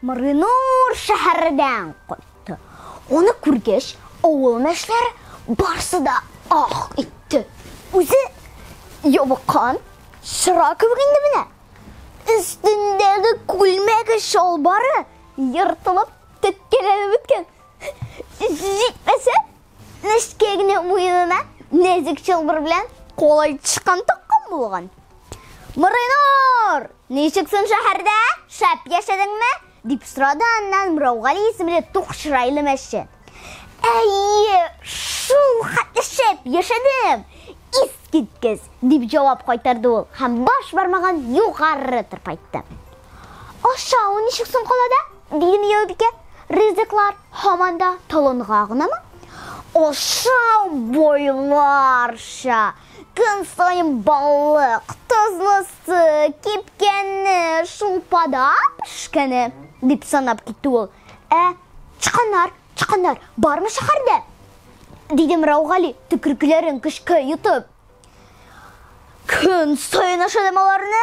Мырынур шәһәрдән кайтты. Аны күргәч, авыл мәшләре барсы да ах итте. Үзе ябыккан чыра кебек инде менә. Өстендәге күлмәге чалбары ертылып, теккәләнеп беткән. Җитмәсә, Нечкә генә муенына нәзек чылбыр белән кулай тычкан тыккан булган. Мырыйнур, ничек соң шәһәрдә? Шәп яшәдеңме? дип сорады аннан Мыраугали исемле тук чырайлы мәче. Әйе, шул хәтле шәп яшәдем. Ис киткез, дип җавап кайтарды ул һәм баш бармагын югары тырпайтты. Ашау ничек соң калада? Диде Мияубикә, ризыклар һаман да толынга гынамы? Ашау бойларча! Көн саен балык, тозлысы, кипкәне, шулпада пешкәне, дип санап китте ул. Ә тычканнар, тычканнар бармы шәһәрдә? Диде Мираугали, төкеркләрен көчкә йотып. Көн саен ашадым аларны,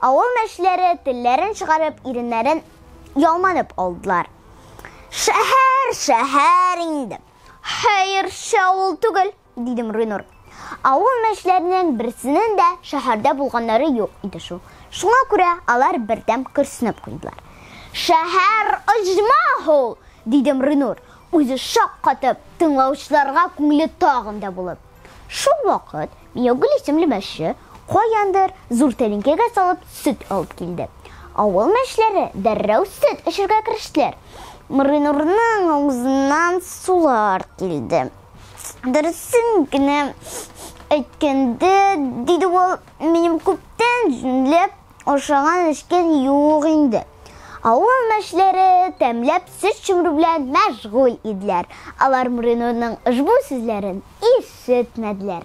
Авыл мәчеләре телләрен чыгарып, иреннәрен ялманып алдылар. Шәһәр, шәһәр инде. Хәерче авыл түгел, диде Мрынур. Авыл мәчләренең берсенең дә шәһәрдә булганнары юк иде шул. Шуңа күрә алар бердәм көрсенеп куйдылар. Шәһәр оҗмах ул, диде Мрынур, үзе шаккатып, тыңлаучыларга күңеле тагын да булып. Шул вакыт Миогул исемле мәче каяндыр зур тәлинкәгә салып сөт алып килде. Авыл мәчләре дәррәү сөт эчергә керештеләр. Моринурның авызыннан сулар килде. Дөресен генә әйткәндә, диде ул, минем күптән җүнләп Ашаган эчкән юк инде. Авыл мәшләре тәмләп сөт чөмерү белән мәшгуль иделәр. Алар Муринурның ошбу сүзләрен ишетмәделәр.